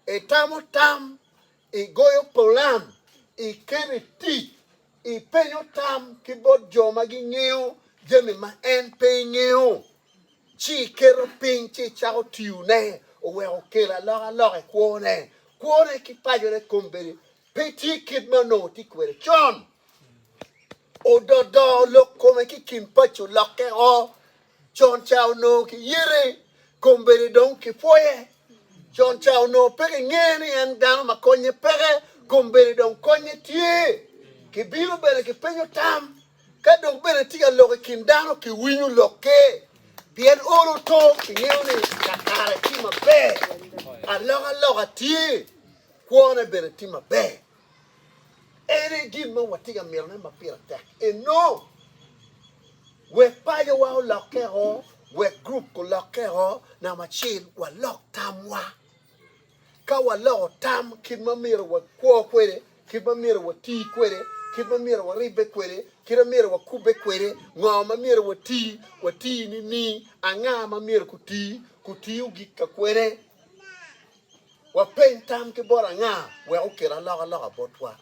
Itamo tam, igoyo pulan, iketo i tic, ipenyo tam ki bot jo ma gingeyo jami ma en pe ingeyo, ci iketo piny ci icako tiyone, oweko okel alokaloka i kwone. Kwone ki pacone kombeddi pe tye kit ma onongo tye kwede con. Ododo lok kome ki i kin paco lokke o. Con ca onongo kiyete kombeddi dong kipwoye. Con ca onongo pe kingeyo ni en dano ma konye peke, kombeddi dong konye tye. Kibino bene kipenyo tam, ka dok bene tye ka lok i kin dano kiwinyo lokke. Pien olo oto kingeyo ni kakare tye maber, alokaloka tye, kwone bene tye maber. En aye gin ma watye ka mitone ma pire tek enong wek pacowa olokke o, wek gurup gulokke o. Namba acel, walok tamwa. Ka waloko tam kit ma myero wakwo kwede, kit ma myero wati kwede, kit ma myero waribbe kwede, kit ma myero wakubbe kwede, ngo ma myero wati, wati nining, anga ma myero guti, gutiyo gik ka kwene, Wapeny tam ki bot anga wek okel alokaloka botwa.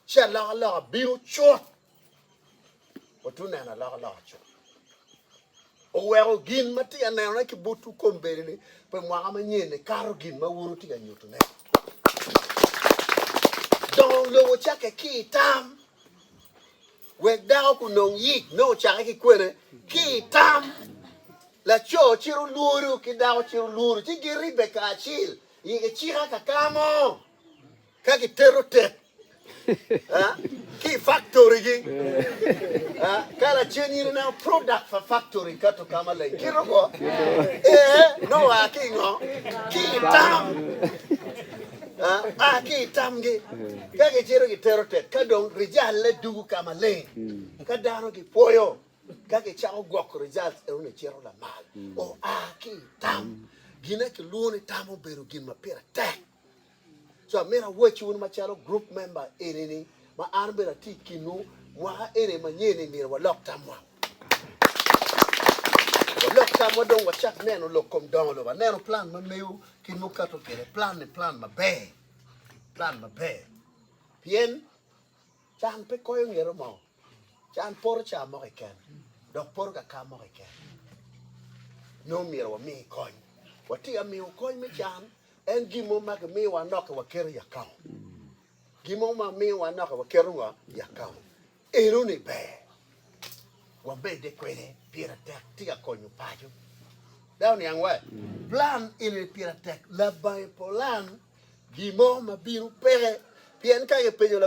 Ci alokaloka bino cut. Watu neno alokaloka cut. Oweko gin ma tye ka nenone ki botwu kombeddi-ni pi mwaka manyen-ni kato gin ma wun wutye ka nyutone. Dongo lobo cakke ki i tam. Wek dako kunong yic, nongo ocake ki kwene? Ki i tam. Laco ciro lwodo ki dako ciro lwodo, ci giribbe kacil i kicika kaka mo ka giteto tep ki i faktorigi. Ka lacen in ineno product pa faktori kato ka maleng, kito ko, Ee, nongo oa ki i ngo? Ki i tam. a ki i tamgi, ka gicito gitero tek, ka dong rijalle dugo ka maleng. Ka dano gipwoyo, ka gicako gwoko rijalt eno ni cito lamal, oa ki i tam. Gin ma kilwongo ni tam obedo gin ma pire tek. So amito awacci wun macalo group member eni ni ma an bene atye i kinwu mwaka eni manyen-ni myero walok tamwa. Walok tam wa dong wacak neno lok kom dongo lobo. Aneno plan ma meyo kit ma wukato kwede. Plan ni plan maber. Plan maber. Pien can pe koyo ngero mo. Can poro ca mo keken. Dok poro ka ka mo keken. Nongo myero wami kony. Watye ka miyo kony me can. En gin mo ma kimiyowa noki waketo i akaunt. Gin mo ma miyowa noki waketo ngo? I akaunt. Enoni ber wamedde kwede pire tek tye ka konyo paco. Dawe oniang wa plan enoni pire tek labange polan gin mo ma bino peke pien ka ki penyo